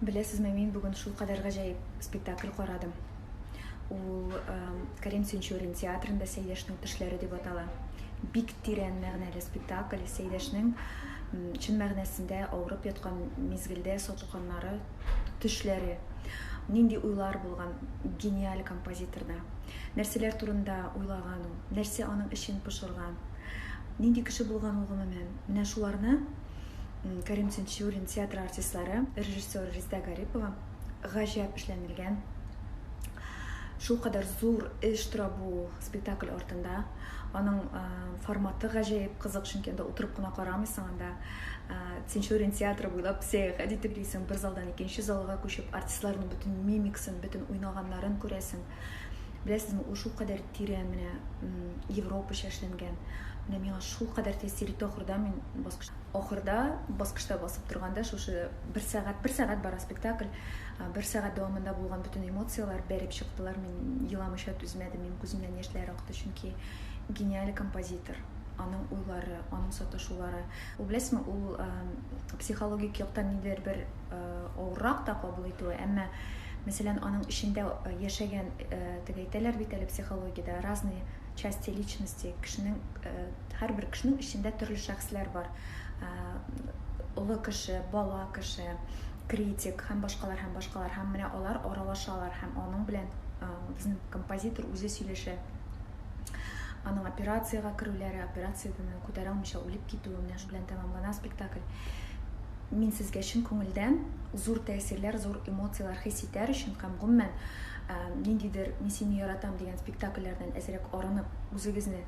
Беләсезме, мин бүген шулкадәр гаҗәеп спектакль карадым. Ул Карим Сенчурин театрында Сәйдәшнең төшләре дип атала. Бик тирән мәгънәле спектакль. Сәйдәшнең чын мәгънәсендә авырып яткан мизгелдә сатылганнары, төшләре, нинди уйлар булган гениаль композиторда. Нәрсәләр турында уйлаган ул, нәрсә аның эчен пошырган, нинди кеше булган ул гомумән. Менә шуларны Кәрим Тинчурин театры артистлары, режиссер Резда Гарипова гаҗәп эшләнелгән шулкадәр зур эш тора бу спектакль артында. Аның э, форматы гаҗәеп кызык, чөнки анда утырып кына карамыйсың, анда э, Тинчурин театры буйлап сәяхәт итеп йөрисең, бер залдан икенче залга күчеп, артистларның бөтен мимикасын, бөтен уйнаганнарын күрәсең. Беләсезме, ул шул кадәр тирән менә европача эшләнгән. Менә миңа шул кадәр тәэсир итте ахырда мин баскыч ахырда баскычта басып торганда шушы бер сәгать, бер сәгать бара спектакль, бер сәгать дәвамында булган бөтен эмоцияләр бәреп чыктылар. Мин еламыйча түзмәдем, мин күземнән яшьләр акты, чөнки гениаль композитор, аның уйлары, аның саташулары. Ул беләсезме, ул психологик яктан нидер бер авыррак та кабул итүе әмма мәсәлән аның эчендә яшәгән дип әйтәләр бит әле психологиядә разные части личности кешенең һәрбер кешенең эчендә төрле шәхесләр бар олы кеше бала кеше критик һәм башкалар һәм башкалар һәм менә алар аралашалар һәм аның белән безнең композитор үзе сөйләшә Аның операциягә керүләре, операциядән күтәрә алмыйча үлеп китүе менә шу белән тәмамлана спектакль. Мин сезгә чын күңелдән зур тәэсирләр, зур эмоцияләр хис итәр өчен һәм гомумән ниндидер Мин сине яратам дигән спектакльләрдән әзрәк арынып, үзегезне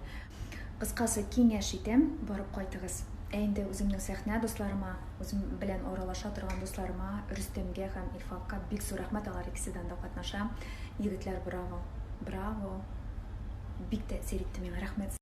кыскасы киңәш итәм, барып кайтыгыз. Ә инде үземнең сәхнә дусларыма, үзем белән аралаша торган дусларыма, Рөстәмгә һәм Илфакка бик зур рәхмәт, алар икесе дә анда катнаша. Егетләр браво! Браво! Бик тәэсир итте миңа. Рәхмәт.